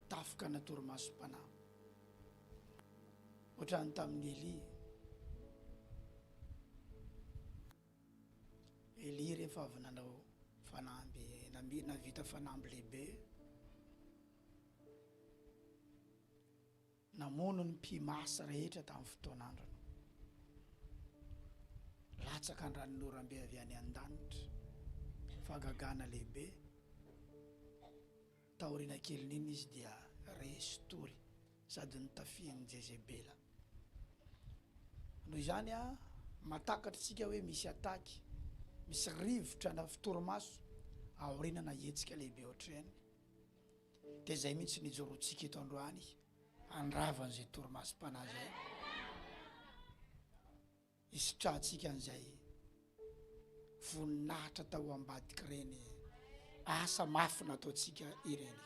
Tafoka na torimasom-panahy. Ohatran'ny tamin'i Elia. Elia rehefa avy nanao fanamby, navita fanamby lehibe, namono ny mpimasy rehetra tamin'ny fotoan'androny. Latsaka an-dranonorambe avy any an-danitra, fagagana lehibe. Taoriana kelin'iny izy dia re sy tory sady notafihin'i Jezebela. Noho izany, mahatakatra isika hoe misy ataky, misy rivotra na fitorimaso aoriana na hetsika lehibe ohatr'ireny. Dia izay mihitsy no ijoroantsika eto androany, handrava an'izay torimasom-panahy izay. Hisitrantsika an'izay voninahitra tao ambadik'ireny asa mafy nataontsika ireny.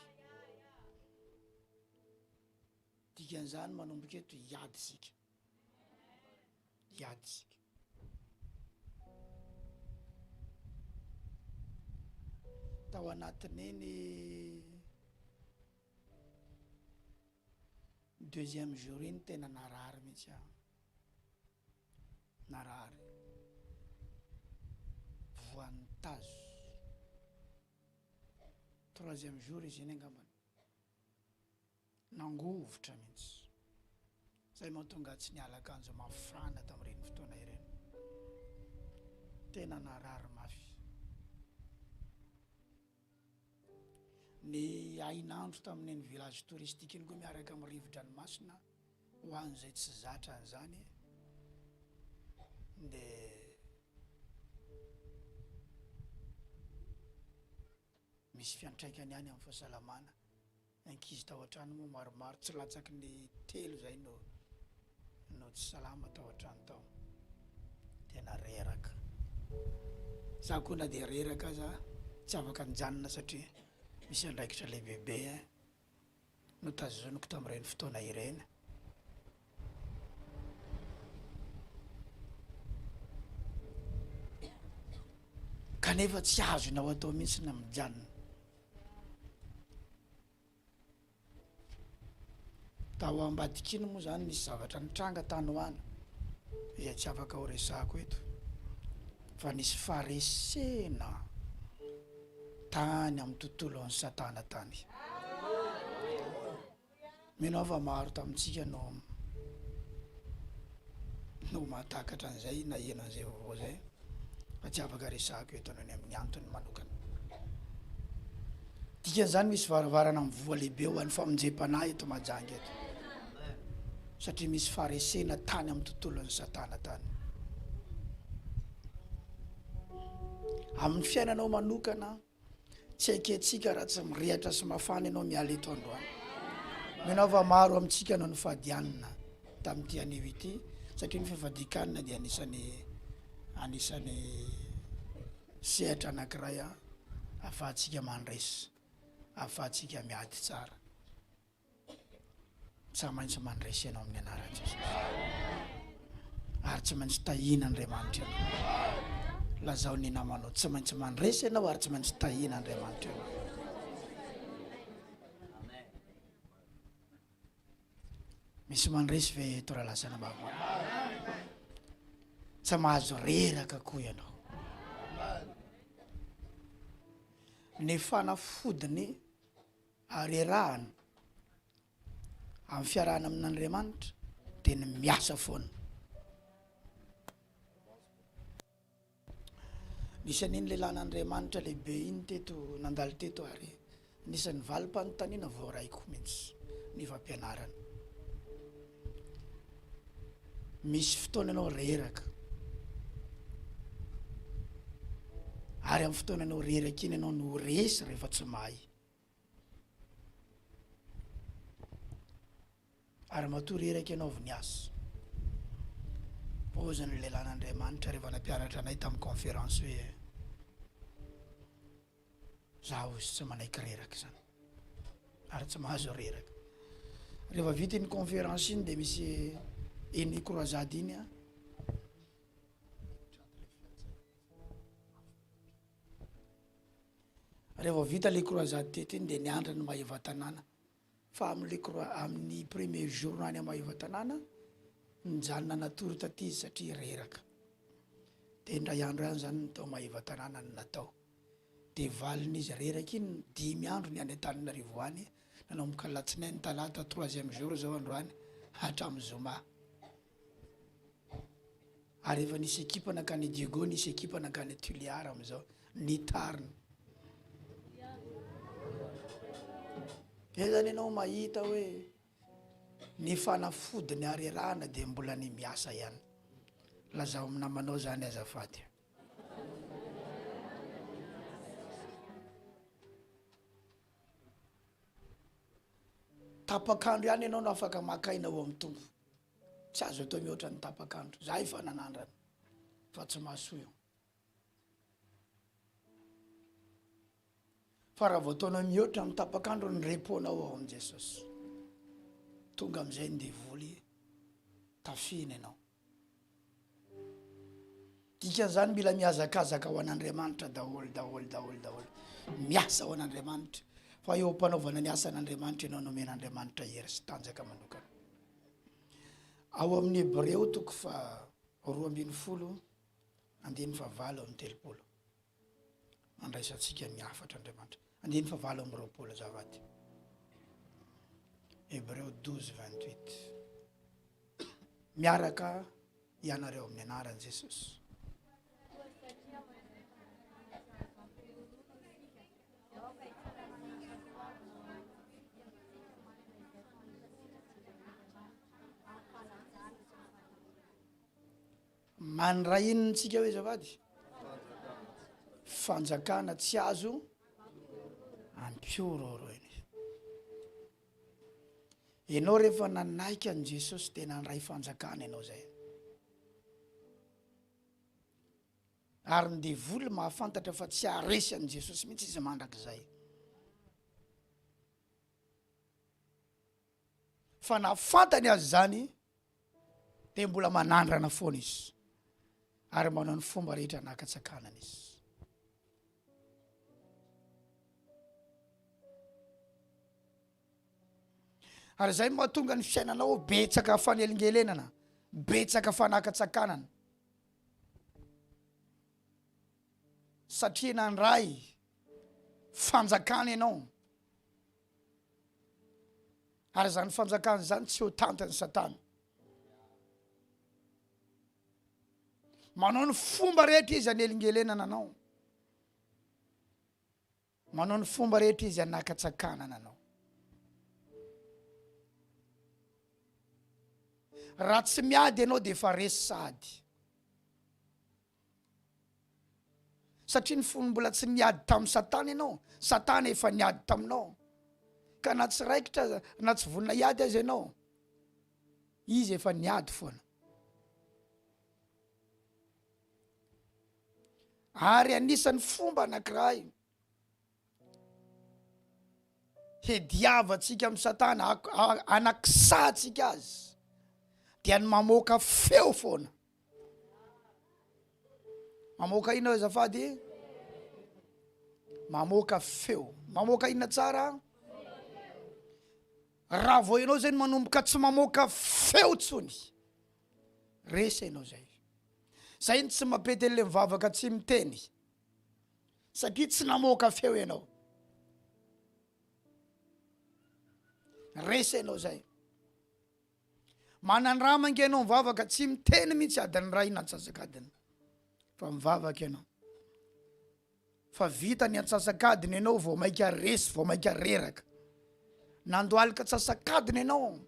Dikan'izany manomboka eto hiady isika. Hiady isika. Tao anatin'iny deuxième jour iny tena narary mihitsy aho. Narary. Voan'ny tazo. Troisième jour izy iny angambany. Nangovitra mihitsy. Izay mahatonga ahy tsy niala akanjo mafana tamin'ireny fotoana ireny. Tena narary mafy. Ny hainandro tamin'iny village touristique iny koa miaraka amin'ny rivo-dranomasina ho an'izay tsy zatra an'izany dia misy fiantraikany ihany amin'ny fahasalamana. Ankizy tao an-trano moa maromaro, tsy latsaky ny telo izay no no tsy salama tao an-trano tao. Tena reraka. Izaho koa na dia reraka aza tsy afaka nijanona satria misy andraikitra lehibebe notazoniko tamin'ireny fotoana ireny. kanefa tsy azonao atao mihitsy na mijanona tao ambadikiny moa zany misy zavatra nitranga tany ho any izay tsy afaka ho resako eto fa nisy faresena tany amin'ny tontolon'ny satana tany Mino aho fa maro tamintsika no no mahatakatra an'izay, naheno an'izay vaovao izay, fa tsy afaka resahako eto noho ny amin'ny antony manokana. Dikan'izany misy varavarana mivoha lehibe ho an'ny famonjem-panahy eto Mahajanga eto, satria misy faharesena tany amin'ny tontolon'i Satana tany. Amin'ny fiainanao manokana, Tsy haikentsika raha tsy mirehatra sy mafana ianao miala eto androany. Mino aho fa maro amintsika no nifadianina tamin'ity anio ity satria ny fifadian-kanina dia anisan'ny anisan'ny sehatra anankiray ahafahantsika mandresy, ahafahantsika miady tsara. Tsy maintsy mandresy ianao amin'ny anaran'i Jesosy. Ary tsy maintsy tahiana Andriamanitra ianao. Lazao ny namanao, tsy maintsy mandresy ianao ary tsy maintsy tahiana Andriamanitra ianao. Misy mandresy ve eto raha lazana baba? Tsy mahazo reraka koa ianao. Ny fanafodiny Ary iarahana amin'ny fiarahana amin'Andriamanitra dia ny miasa foana. Nisy an'iny lehilahin'Andriamanitra lehibe iny teto nandalo teto ary anisan'ny valim-panontaniana voaraiko mihitsy ny fampianarana. Misy fotoana ianao reraka ary amin'ny fotoana ianao reraka iny ianao no resy rehefa tsy mahay. Ary matoa reraka ianao Voniazo. Pozin'ny lelan'Andriamanitra rehefa nampianatra anay tamin'ny conférence hoe za hozy tsy manaiky reraka izany ary tsy mahazo reraka. Rehefa vita iny conférence iny dia misy iny croisade iny a. Raha vao vita le croisade teto iny dia niandry an'i Maevatanàna fa amin'le crois- amin'ny premier jour any Maevatanàna nijanona natory taty izy satria reraka de indray andro ihany zany ny tao Maevatanàna no natao de valin'izy reraka iny dimy andro ny any Antananarivo any nanomboka alatsinainy, talata, troisième jour zao androany hatramin'ny zoma. ary efa nisy ekipa nankany Diego, nisy ekipa nankany Tuliar amin'izao, ny Tarn. Ezany ianao mahita hoe ny fanafody ny harerahana dia mbola ny miasa ihany. Lazao amin'ny namanao izany azafady. Tapak'andro ihany ianao no afaka maka aina ao amin'ny Tompo. Tsy azo atao mihoatra ny tapaka andro. Za efa nanandrana fa tsy mahasoa io. Fa raha vao ataonao mihoatra ny tapaka andro ny repos-nao ao amin'i Jesosy. Tonga amin'izay ny devoly tafihina ianao. Dikan'izany mila mihazakazaka ho an'Andriamanitra daholo daholo daholo daholo, miasa ho an'Andriamanitra fa eo am-panaovana ny asan'Andriamanitra ianao no omen'Andriamanitra hery sy tanjaka manokana. Ao amin'ny Hebreo toko faha roa ambin'ny folo andininy fahavalo amby telopolo. handraisantsika ny hafatra Andriamanitra. Andininy fahavalo amby roapolo azafady. Hebreo douze vingt huit. Miaraka ianareo amin'ny anaran'i Jesosy. Mandray inona tsika hoe azafady? Fanjakana tsy azo ampiororoina. Enao rehefa nanaiky an'i Jesosy dia nandray fanjakana enao zay. Ary ny devoly mahafantatra fa tsy haharesy an'i Jesosy mihitsy izy mandrakizay. Fa na fantany aza zany dia mbola manandrana foana izy ary manao ny fomba rehetra anakatsakanana izy ary zay mahatonga ny fiainanao betsaka fanelingelenana betsaka fanakatsakanana satria nandray fanjakana ianao Ary izany fanjakana izany tsy ho tantan'i Satana. Manao ny fomba rehetra izy anelingelenana anao. Manao ny fomba rehetra izy anakatsakanana anao. Raha tsy miady ianao dia efa resy sahady. Satria ny fony mbola tsy niady tamin'i Satana ianao, Satana efa niady taminao. Ka na tsy raikitra aza, na tsy vonona hiady aza ianao, izy efa niady foana. Ary anisan'ny fomba anankiray hediavantsika amin'i Satana, hanakisantsika azy, dia ny mamoaka feo foana. Mamoaka inona azafady? Mamoaka feo. Mamoaka inona tsara? Raha vao ianao zay no manomboka tsy mamoaka feo tsony, resa ianao zay. Zay ny tsy mapetele mivavaka tsy miteny. satria tsy namoaka feo ianao resa ianao zay manandrama nge ianao mivavaka tsy miteny mihitsy adin'ny ray na antsasakadiny fa mivavaka ianao fa vita ny antsasakadiny ianao vao maika resy vao maika reraka nandoalika antsasakadiny ianao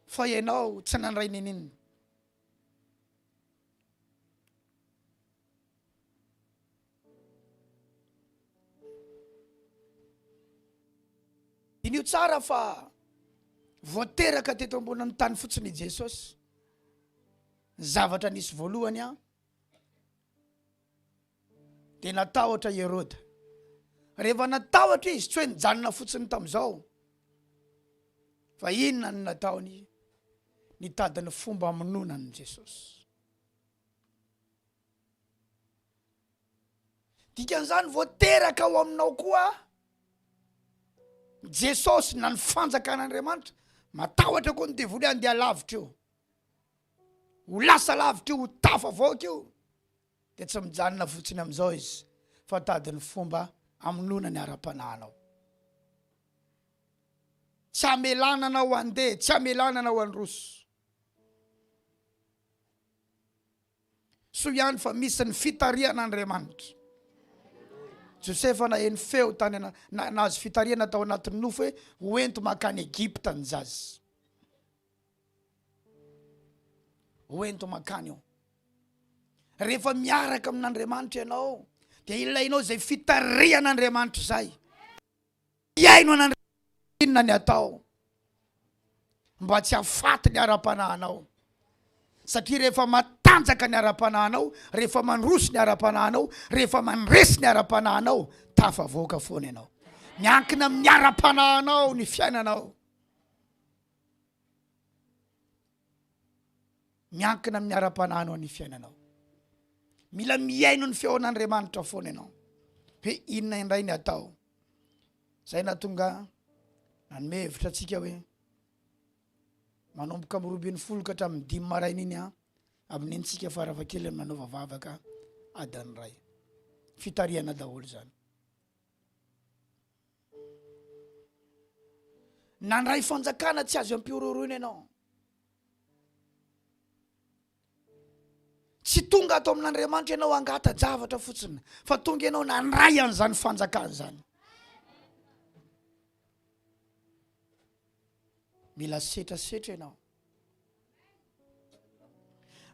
fa ianao tsy nandray nininona Diniho tsara fa voateraka teto ambonin'ny tany fotsiny i Jesosy. Ny zavatra nisy voalohany an dia natahotra i Heroda. Rehefa natahotra izy tsy hoe nijanona fotsiny tamin'izao fa inona ny nataony nitady ny fomba amonoana an'i Jesosy. Dikan'izany vao teraka ao aminao koa Jesosy na ny fanjakan'Andriamanitra, matahotra koa ny devoly handeha lavitra io. Ho lasa lavitra io, ho tafavoaka io. Dia tsy mijanona fotsiny amin'izao izy fa tady ny fomba amonoana ny ara-panahinao. Tsy amelana anao handeha, tsy amelana anao handroso. Soa ihany fa misy ny fitarihan'Andriamanitra. Josefa naheno feo tany na, na, nahazo fitarihana tao anatin'ny nofo hoe hoento makany Egypta ny zaza. Hoento makany eo. Rehefa miaraka amin'Andriamanitra ianao dia ilainao izay fitarihan'Andriamanitra izay. Hihaino an'Andriamanitra inona ny atao mba tsy hahafaty ny ara-panahinao, satria rehefa matanjaka ny ara-panahinao, rehefa mandroso ny ara-panahinao, rehefa mandresy ny ara-panahinao, tafavoaka foana ianao. Miankina amin'ny ara-panahinao ny fiainanao. Miankina amin'ny ara-panahinao ny fiainanao. Mila mihaino ny feon'Andriamanitra foana ianao hoe inona indray ny atao. Izay nahatonga nanome hevitra antsika hoe manomboka amin'ny roa ambin'ny folo ka hatramin'ny dimy maraina iny an, amin'intsika farafahakeliny manaova vavaka adiny iray. Fitarihana daholo izany. Nandray fanjakana tsy azo ampihorohoroina ianao. Tsy tonga ato amin'Andriamanitra ianao hangata-javatra fotsiny fa tonga ianao nandray an'izany fanjakana izany. Mila setrasetra ianao.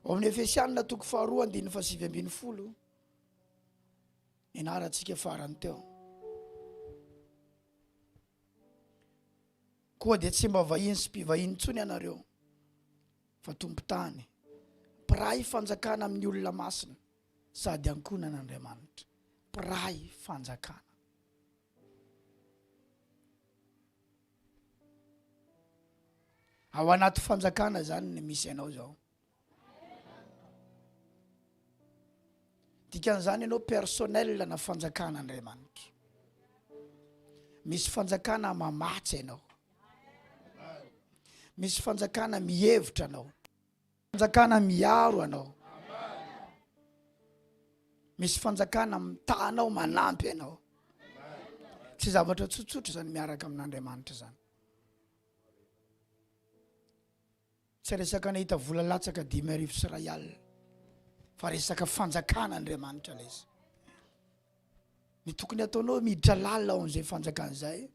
Ao amin'ny Efesianina toko faharoa andininy fahasivy ambin'ny folo Nianarantsika farany teo. Koa dia tsy mba vahiny sy mpivahiny intsony ianareo fa tompon-tany, mpiray fanjakana amin'ny olona masina sady ankonan'Andriamanitra, mpiray fanjakana. Ao anaty fanjakana izany ny misy anao izao. Dikan'izany ianao personnel na fanjakan'Andriamanitra. Misy fanjakana mamatsy ianao. Misy fanjakana mihevitra anao. Fanjakana miaro anao. Misy fanjakana mitahanao manampy anao. Tsy zavatra tsotsotra izany miaraka amin'Andriamanitra izany. Tsy resaka nahita vola latsaka dimy arivo sy iray alina fa resaka fanjakana Andriamanitra lesy. Ny tokony ataonao miditra lalina ao amin'izay fanjakana izay.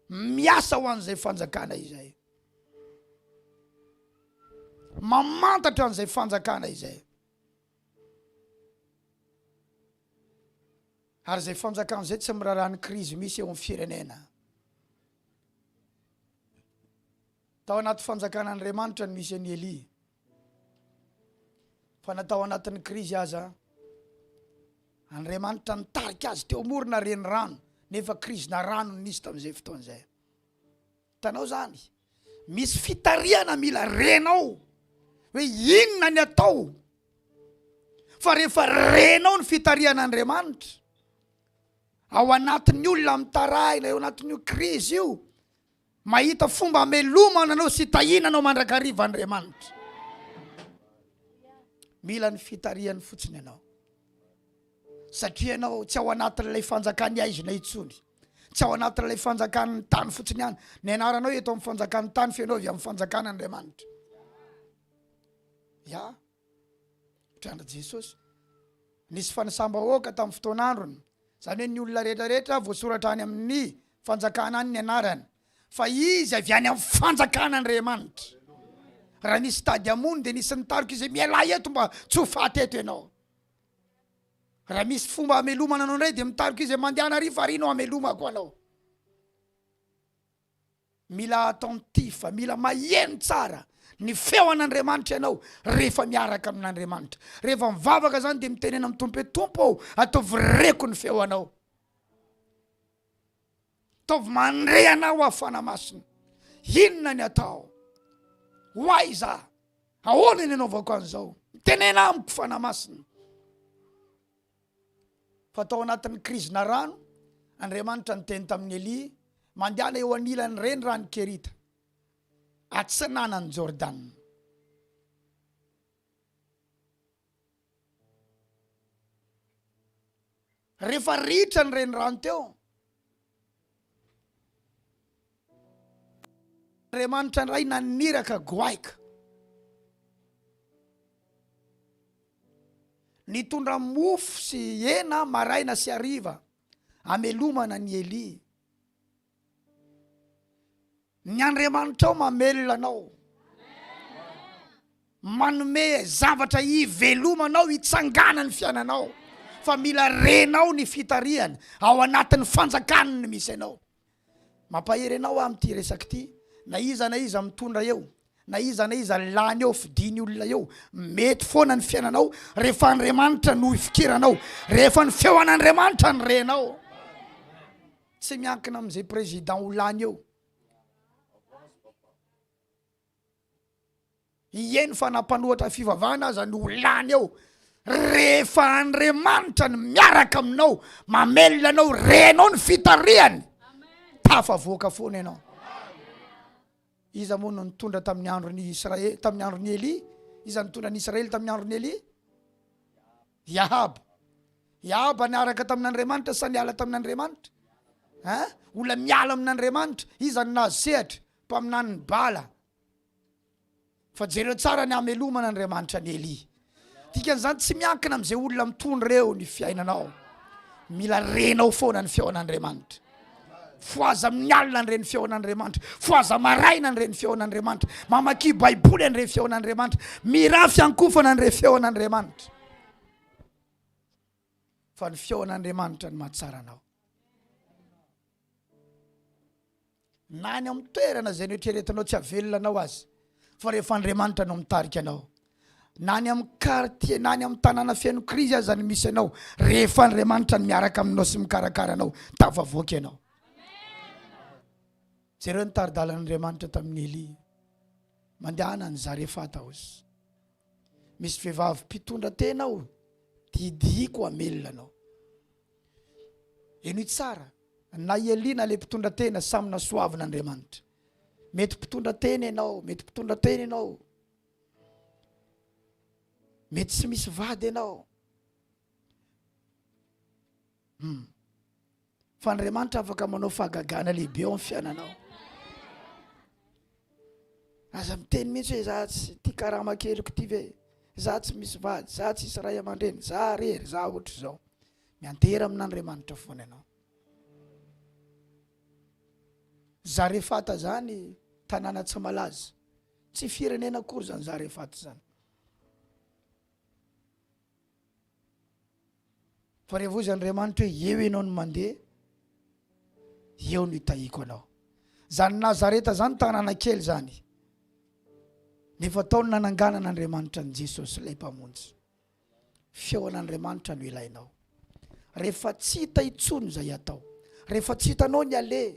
Miasa ho an'izay fanjakana izay. Mamantatra an'izay fanjakana izay. Ary izay fanjakana izay tsy miraharaha ny krizy misy eo amin'ny firenena. Tao anaty fanjakan'Andriamanitra no misy an'i Elia, fa na tao anatin'ny krizy aza, Andriamanitra nitarika azy teo morona renirano, nefa krizina rano no nisy tamin'izay fotoana izay. Hitanao izany? Misy fitarihana mila renao hoe inona ny atao fa rehefa renao ny fitarihan'Andriamanitra Ao anatin'ny olona mitarahina eo anatin'io krizy io, mahita fomba hamelomana anao sy hitahiana anao mandrakariva Andriamanitra. Mila ny fitarihany fotsiny ianao, satria ianao tsy ao anatin'ilay fanjakan'ny haizina intsony, tsy ao anatin'ilay fanjakan'ny tany fotsiny ihany. Ny anaranao eto amin'ny fanjakan'ny tany, fa ianao avy amin'ny fanjakan'Andriamanitra. Ya. Mitranga Jesosy. Nisy fanisam-bahoaka tamin'ny fotoan'androny, izany hoe ny olona rehetra rehetra voasoratra any amin'ny fanjakana any ny anarany, fa izy avy any amin'ny fanjakana Andriamanitra. Raha nisy tady hamono dia nisy nitarika izy hoe mialà eto mba tsy ho faty eto ianao. Raha misy fomba hamelomana anao indray dia mitarika izy hoe mandehana ary farihy no hamelomako anao. Mila attentif, mila maheno tsara ny feon'Andriamanitra ianao rehefa miaraka amin'Andriamanitra. Rehefa mivavaka izany dia mitenena amin'ny Tompo hoe, Tompo ô, ataovy reko ny feo Anao. Ataovy mandre Anao aho Fanahy Masina. Inona ny atao? Ho aiza? Ahoana ny anaovako an'izao? Mitenena amiko Fanahy Masina. Fa tao anatin'ny krizina rano, Andriamanitra niteny tamin'i Elia, Mandehana eo anilan'ny renirano Kerita, atsinanan'i Jordana. Rehefa ritra ny renirano teo, Andriamanitra indray naniraka goaika. Nitondra mofo sy hena maraina sy hariva hamelomana an'i Elia. Ny Andriamanitrao mamelona anao. Manome zavatra hivelomanao, hitsanganan'ny fiainanao. Fa mila renao ny fitarihany ao anatin'ny fanjakany ny misy anao. Mampahery anao aho amin'ity resaka ity. Na iza na iza mitondra eo, na iza na iza lany eo, fidiany olona eo, mety foana ny fiainanao rehefa Andriamanitra no ifikiranao, rehefa ny feon'Andriamanitra no renao. tsy miankina amin'izay président ho lany eo ieny fa na mpanohatra ny fivavahana aza ny ho lany eo rehefa andriamanitra ny miaraka aminao mamelona anao renao ny fitarihany tafavoaka foana ianao iza moa no nitondra tamin'ny andron'ny israely tamin'ny andron'ny elia iza nitondra ny israely tamin'ny andron'ny elia I Ahaba. I Ahaba niaraka tamin'Andriamanitra sa niala tamin'Andriamanitra? Hein? Olona miala amin'Andriamanitra. Iza no nahazo sehatra? Mpaminanin'i Bala. Fa jereo tsara ny hamelomana Andriamanitra an'i Elia. Dikan'izany tsy miankina amin'izay olona mitondra eo ny fiainanao. Mila renao foana ny feon'Andriamanitra. Fohaza amin'ny alina ny reny feon'Andriamanitra. Fohaza maraina ny reny feon'Andriamanitra. Mamakia Baiboly ny reny feon'Andriamanitra. Mirà fiankofana ny reny feon'Andriamanitra. Fa ny feon'Andriamanitra ny mahatsara anao. na any amin'ny toerana izay noeritreretinao tsy havelona anao azy fa rehefa andriamanitra no mitarika anao Na any amin'ny quartier na any amin'ny tanàna feno krizy aza ny misy anao, rehefa Andriamanitra no miaraka aminao sy mikarakara anao, tafavoaka ianao. Jereo ny tari-dalan'Andriamanitra tamin'i Elia. Mandehana any Zarefata aho. Misy vehivavy mpitondra tena aho, didiako hamelona anao. Enoy tsara, na i Elia na le mpitondra tena samy nasoavin'Andriamanitra. Mety mpitondra tena ianao, mety mpitondra tena ianao. mety tsy misy vady ianao hmm. fa andriamanitra afaka manao fahagagana lehibe ao am fiainanao aza miteny mihitsy hoe za tsy ti karama keliko ty ve za tsy misy vady za tsy isy ray aman-dreny za rery za ohatra izao miantera amin'andriamanitra fona ianao zarefata zany tanàna tsy malaza Tsy firenena akory zany Zarefat zany. Fa revoizy Andriamanitra hoe eo ianao no mandeha, eo no hitahiako anao. Zany Nazareta zany tanàna kely zany. Nefa tao no nananganan'Andriamanitra an'i Jesosy ilay Mpamonjy. Feon'Andriamanitra no ilainao. Rehefa tsy hita intsony izay atao, rehefa tsy hitanao ny aleha,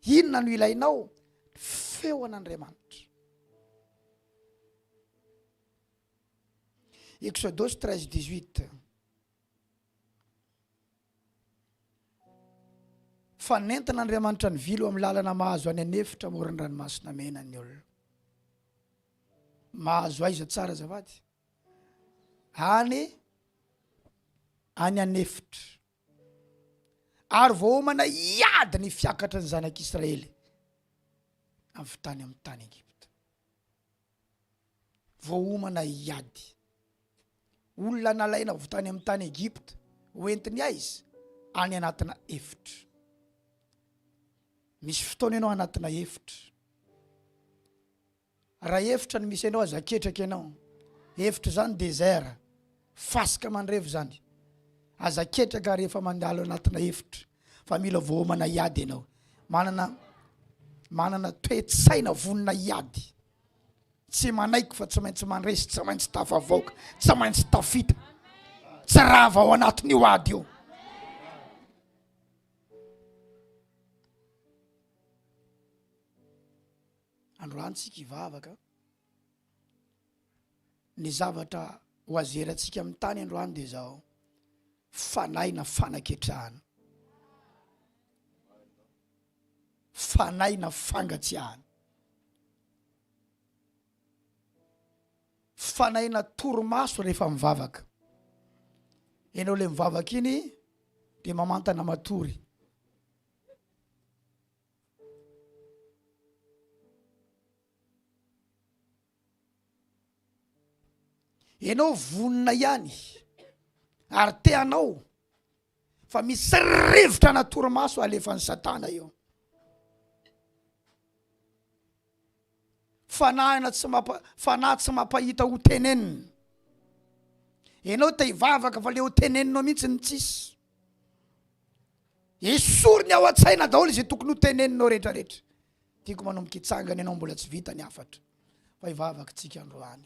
inona no ilainao? Feon'Andriamanitra. Exodus 13 18. Fa nentin'Andriamanitra ny vilo amin'ny lalana mahazo any an'efitra amoron'ny ranomasina mena ny olona. Mahazo aiza tsara azafady? any any an'efitra, ary voaomana hiady ny fiakatry ny zanak'Israely avy tany amin'ny tany Egypta. Voaomana hiady. Olona nalaina avy tany amin'ny tany Egypta, hoentiny aiza? Any anatina efitra. Misy fotoana ianao anatina efitra. Raha efitra no misy anao aza aketraka ianao, efitra izany désert, fasika mandrevo izany, aza aketraka rehefa mandalo anatina efitra fa mila voaomana hiady ianao, manana manana toe-tsaina vonona hiady, tsy manaiky fa tsy maintsy mandresy, tsy maintsy tafavoaka, tsy maintsy tafita, tsy rava ao anatin'io ady io. Androany tsika hivavaka an. Ny zavatra ho azerantsika amin'ny tany androany dia zao. Fanahy na fanaketrahana. Fanahy na fangatsiahana. Fanahy na torimaso rehefa mivavaka. Ianao le mivavaka iny dia mamantana matory. Enao vonona ihany ary te hanao fa misy rivotra ana torimaso alefan'i satana eo. Fanahina tsy mampa fanahy tsy mampahita ho tenenina. Enao te hivavaka fa le ho teneninao mihitsy no tsisy. Esoriny ao an-tsaina daholo izay tokony ho teneninao rehetra rehetra. Tiako manomboka hitsangana ianao mbola tsy vita ny hafatra fa hivavaka tsika androany.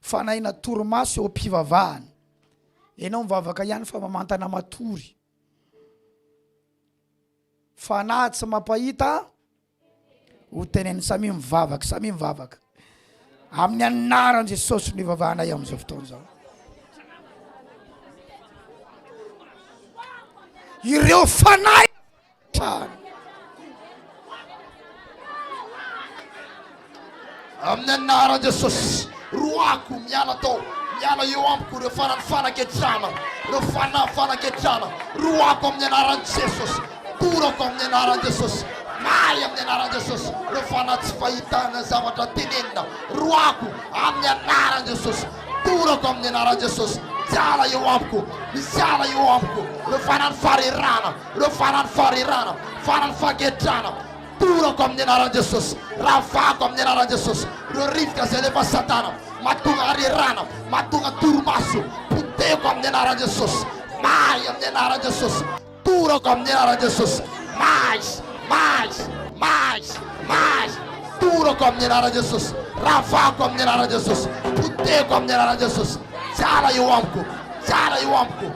Fanahy na torimaso eo am-pivavahana. Ianao mivavaka ihany fa mamantana matory. Fanahy tsy mampahita ho teneniny. Samia mivavaka, samia mivavaka. Amin'ny anaran Jesosy no ivavahanay amin'izao fotoana izao. Ireo fanahy trano. Amin'ny anaran'i Jesosy, roahiko, miala tao, miala eo amiko ireo fanan'ny fanaketrana, ireo fanahy fanaketrana, roahiko amin'ny anaran'i Jesosy, torako amin'ny anaran'i Jesosy, mahay amin'ny anaran'i Jesosy, ireo fanahy tsy fahitana ny zavatra tenenina, roahiko amin'ny anaran'i Jesosy, torako amin'ny anaran'i Jesosy, miala eo amiko, miala eo amiko, ireo fanan'ny farerana, Ireo faran'ny farirana, faran'ny fahaketrahana, torako amin'ny anaran'i Jesosy, ravako amin'ny anaran'i Jesosy ireo rivotra izay alefan'i Satana, mahatonga harirana, mahatonga torimaso, potehiko amin'ny anaran'i Jesosy, may amin'ny anaran'i Jesosy, torako amin'ny anaran'i Jesosy, may, may, may, may, torako amin'ny anaran'i Jesosy, ravako amin'ny anaran'i Jesosy, potehiko amin'ny anaran'i Jesosy, miala eo amiko, miala eo amiko.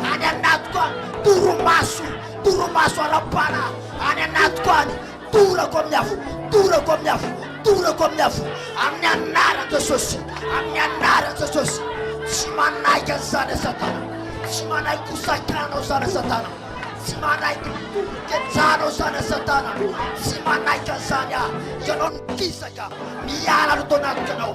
Any anatiko any, torimaso, torimaso ara-panahy, any anatiko any, torako amin'ny afo, torako amin'ny afo, torako amin'ny afo, amin'ny anaran'i Jesosy, amin'ny anaran'i Jesosy. Tsy manaiky an'izany e Satana, tsy manaiky ho sakanao izany e Satana, tsy manaiky ho kejanao izany e Satana, tsy manaiky an'izany aho. Ianao no kisaka, miala aloha tao anatiko ianao,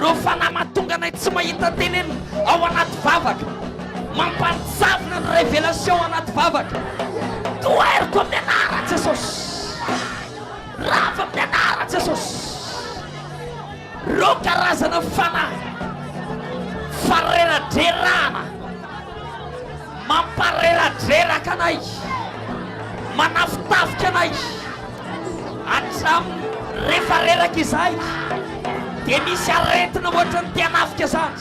Reo fanahy mahatonga anay tsy mahita tenenina ao anaty vavaka Mampanjavona ny révélation anaty vavaka Toheriko amin'ny anaran'i Jesosy Rava amin'ny anaran'i Jesosy Reo karazana fanahy Fareradrerahana Mampareradreraka anay Manafitafika anay Hatraminy refa reraka izahay dia misy aretina ohatran'ny te hanafika zany.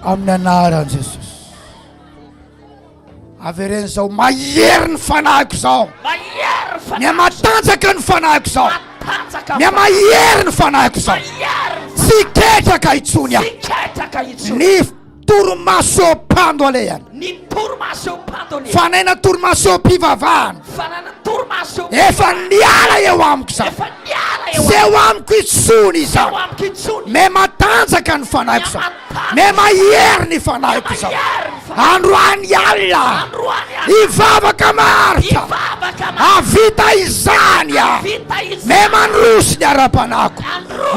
Amin'ny anaran'i Jesosy. Avereno zao mahery ny fanahiko zao. Mahery ny fanahiko. Mia matanjaka ny fanahiko zao. Matanjaka. Mia mahery ny fanahiko zao. Mahery. Tsy ketraka intsony aho. Tsy ketraka intsony. Ny Torimaso eo am-pando alehany. Ny torimaso eo am-pando alehany. Fanaina torimaso eo am-pivavahana. Fanaina torimaso eo. Efa niala eo amiko izany. Efa niala eo. Tsy eo amiko intsony izany. Tsy eo amiko intsony. Me matanjaka ny fanahiko izany. Me mahery ny fanahiko izany. Androany alina. Androany alina. Ivavaka maharitra. Ivavaka maharitra. Avita izany aho. Avita izany. Me mandroso ny ara-panahiko.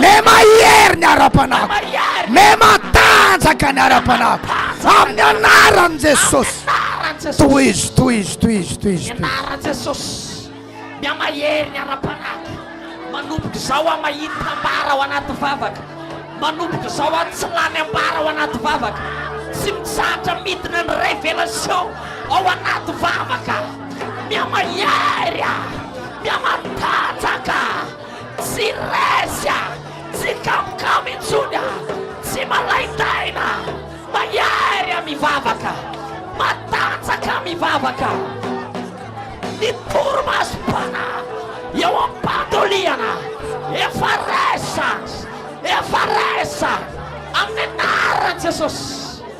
Me mahery ny ara-panahiko Me matanjaka ny ara-panahiko Amin'ny anaran'i Jesosy Tohizo, tohizo, tohizo, tohizo Amin'ny anaran'i Jesosy Me mahery ny ara-panahiko Manomboka izao aho mahita ambara ao anaty vavaka Manomboka izao aho tsy lany ambara ao anaty vavaka Tsy mitsahatra midina ny révélation ao anaty vavaka Me mahery aho Me matanjaka Tsy resy a! Tsy kamokamo intsony a! Tsy malaintaina a! Mahery a! Mivavaka! Matanjaka a! Mivavaka! Ny torimaso bana eo am-pandolihana efa resy a! Efa resy a! Amin'ny anaran'i Jesosy!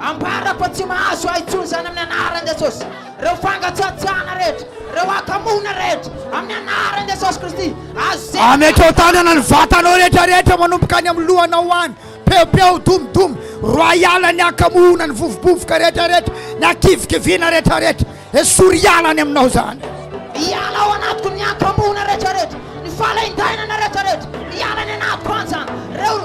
Ambara fa tsy mahazo ahy intsony izany amin'ny anaran'i Jesosy ireo fangatsiatsiahana rehetra, ireo akamoana rehetra amin'ny anaran'i Jesosy Kristy. Azo zay. Amekeo tanana ny vatanao rehetra rehetra manomboka any amin'ny lohanao ho any. Peopeo, dum dum, royal ny akamoana, ny vovobovoka rehetra rehetra, ny akivikiviana rehetra rehetra. Esory hiala any aminao zany. Hiala ao anatiko ny ankambohona rehetrarehetra, ny fahalaindainana rehetrarehetra, hiala any anatiko any zany. Reo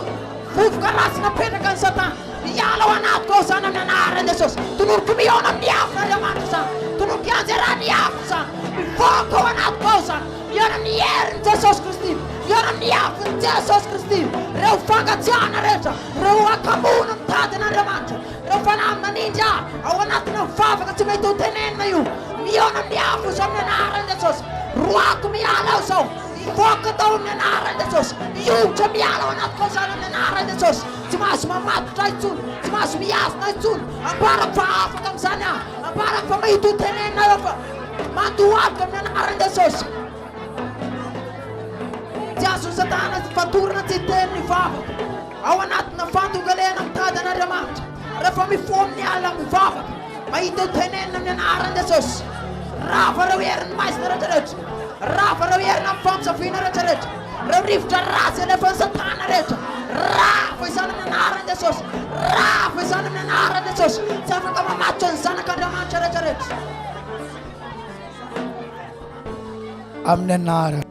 vovoka ratsy napetraka ny satana, hiala ao anatiko ao zany amin'ny anaharan'i Jesosy. Tononiko mihaona amin'ny afo Andriamanitra zany, tononiko hianjerà ny afo zany, mivoaka ao anatiko ao zany, mihaona amin'ny herin'i Jesosy Kristy, mihaona amin'ny afon'i Jesosy Kristy. Reo fangatsiahana rehetra, reo ankambohona mitady an'Andriamanitra, Ireo fanahy manindry ahy ao anatina vavaka tsy mety ho tenenina io, mihaona amin'ny afo izao amin'ny anaran'i Jesosy. Roahiko miala ao izao, mivoaka ato amin'ny anaran'i Jesosy. Miongotra miala ao anatiko ao izany amin'ny anaran'i Jesosy. Tsy mahazo mamatotra ahy intsony, tsy mahazo mihazona ahy intsony. Ambarako fa afaka amin'izany aho, ambarako fa mety ho tenenina eo fa mandohalika amin'ny anaran'i Jesosy. Tsy azon'i Satana fatorana tsy hiteny ny vavaka. Ao anatina fandogalehana mitady an'Andriamanitra. Rehefa mifoha amin'ny alina mivavaka, mahita io tenenina amin'ny anaran'i Jesosy. Rava ireo herin'ny maizina rehetrarehetra. Rava ireo herina amin'ny famosaviana rehetrarehetra. Ireo rivotra ratsy alefan'i Satana rehetra. Rava izany amin'ny anaran'i Jesosy. Rava izany amin'ny anaran'i Jesosy. Tsy afaka mamatotra ny zanak'Andriamanitra rehetrarehetra. amin'ny anara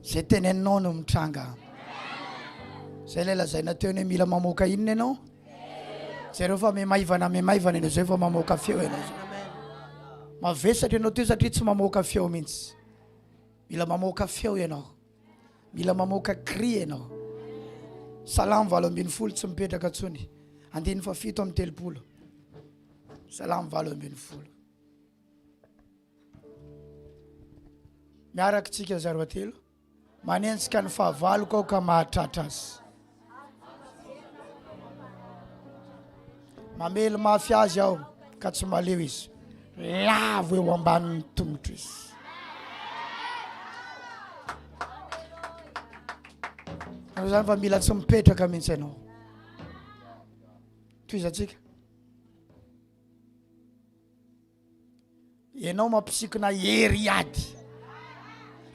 zay teneninao no mitranga zay ilay lazaina teo ny mila mamoaka inona ianao zareo fa memaivana memaivana ianao zay fa mamoaka feo ianao zay mavesatra ianao teo satria tsy mamoaka feo mihitsy mila mamoaka feo ianao mila mamoaka cri ianao salamo valo ambin'ny folo tsy mipetraka ntsony andiny fa fito amin'ny telopolo Salamo valo ambin'ny folo. Miaraka tsika zaro atelo. Manenjika ny fahavaloko aho ka mahatratra azy. Mamely mafy azy aho ka tsy maleo izy. Lavo eo ambanin'ny tomotro izy. Zany fa mila tsy mipetraka mihitsy ianao. Tohizantsika. Ianao mampisikina hery hiady.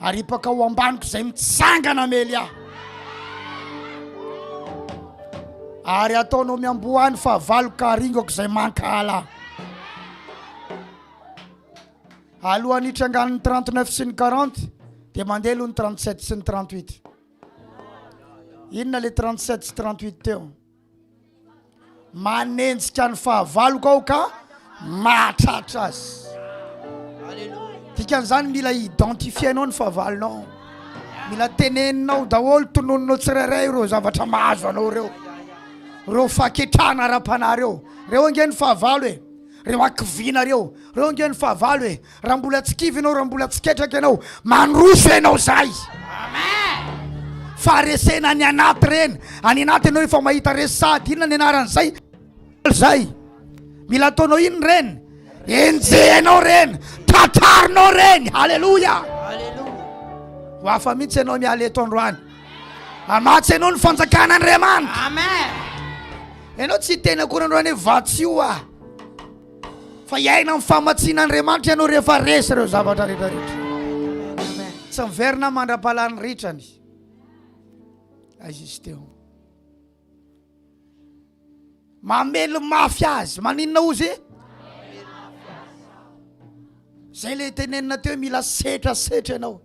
Aripaka ao ambaniko izay mitsangana mely ahy. Ary ataonao miambohany fa valoka aringako izay mankahala. Alohan'ny hitrangan'ny 39 sy ny 40 dia mandeha aloha ny 37 sy ny 38. Inona le 37 sy 38 teo? Manenjika ny fahavaloko aho ka mahatratra azy. Dikan'izany mila identifienao ny fahavalonao. Mila teneninao daholo, tononinao tsirairay ireo zavatra mahazo anao ireo. Ireo faketrana ara-panahy ireo. Ireo ange ny fahavalo e. Ireo hakiviana ireo. Ireo ange ny fahavalo e. Raha mbola tsy kivy ianao, raha mbola tsy ketraka ianao, mandroso ianao izay. Faharesena any anaty ireny. Any anaty ianao efa mahita resy sahady inona ny anaran'izay izay. Mila ataonao inona ireny? Enjehinao ireny, tratrarinao ireny. Haleloia. Ho hafa mihitsy ianao miala eto androany. Amatsy ianao ny fanjakan'Andriamanitra. Amen. Ianao tsy tena akory androany hoe vatsioa. Fa hiaina amin'ny famatsian'Andriamanitra ianao rehefa resy ireo zavatra rehetra rehetra. Tsy miverina mandra-pahalan'ny ritrany. Aiza izy teo? Mamely mafy azy. Maninona ozy? Zay le tenenina teo mila setra setra ianao.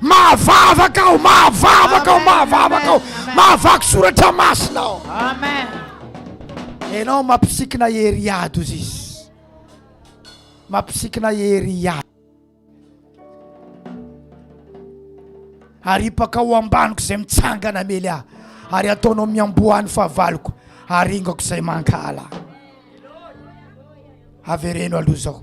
Mahavavaka aho, mahavavaka aho, mahavavaka aho, mahavaky soratra masina aho. Amen. Ianao mampisikina hery ady ozy izy. Mampisikina hery ady. Aripaka ho ambaniko izay mitsangana mely ahy ary ataonao miamboahan'ny fahavaloko aringako izay mankahala. Avereno aloha izao.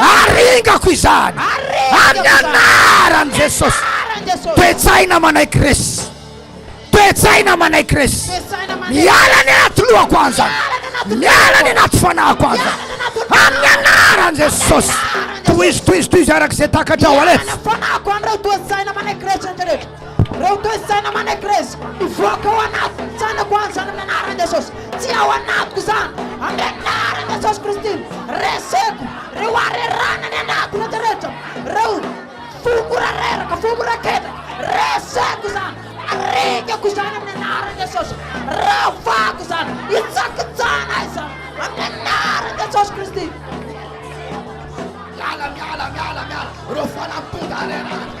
Aringako izany amin'ny anaran'i Jesosy. Toe-tsaina manaiky resy. Toe-tsaina manaiky resy. Miala ny anaty lohako aho izany. Miala ny anaty fanahiko aho izany. Amin'ny anaran'i Jesosy. Tohizo, tohizo, tohizo araka izay takatrao. Alefa. Reo toetsaina manegrezy mivoaka ao anatin'ny tsainako any zany amin'ny anaran'i Jesosy. Tsy ao anatiko zany amin'ny anaran'i Jesosy Kristy. Reseko reo harerahana any anaty rehetra rehetra, reo fo mora reraka, fo mora ketraka. Reseko zany, arengako zany amin'ny anaran'i Jesosy. Ravako zany, hitsakitsahana ahy zany amin'ny anaran'i Jesosy Kristy. Miala, miala, miala, miala reo fanampin-daharerahana.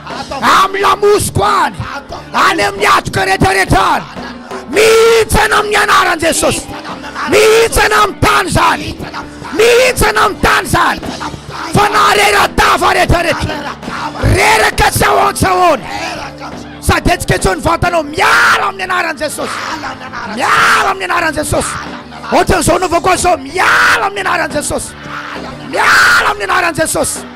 amin'ny lamosiko any, any amin'ny hatoka rehetrarehetra any, mihintsana amin'ny anaran'i Jesosy, mihintsana amin'ny tany izany, mihintsana amin'ny tany izany, fa naharera-dava rehetrarehetra, reraka tsy ao an-tsahona, sady hetsiketseho ny vantanao, miala amin'ny anaran'i Jesosy, miala amin'ny anaran'i Jesosy, ohatran'izao anaovako azy izao, miala amin'ny anaran'i Jesosy, miala amin'ny anaran'i Jesosy.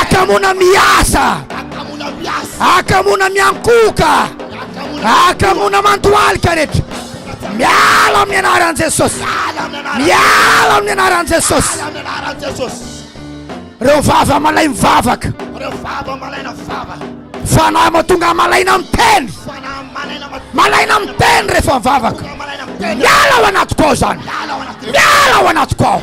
akamona miasa akamona miankoka akamona mantoalika rehetra miala amin'ny anaran'i jesosy miala amin'ny anaran'i jesosy reo vava malay mivavaka fanahy matonga malaina miteny malaina miteny rehefa mivavaka miala ao anatiko ao zany miala ao anatiko ao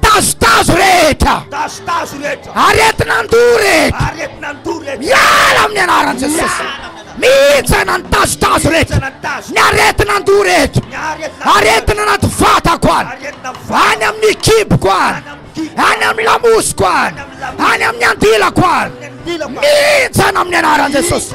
Tazotazo rehetra. Tazotazo rehetra. Aretin'andoha rehetra. Aretin'andoha rehetra. Miala amin'ny anaran'i Jesosy. Mihintsana ny tazotazo rehetra. Ny aretin'andoha rehetra. Aretina anaty vatako any. Any amin'ny kiboko any. Any amin'ny lamosiko any. Any amin'ny andilako any. Mihintsana amin'ny anaran'i Jesosy.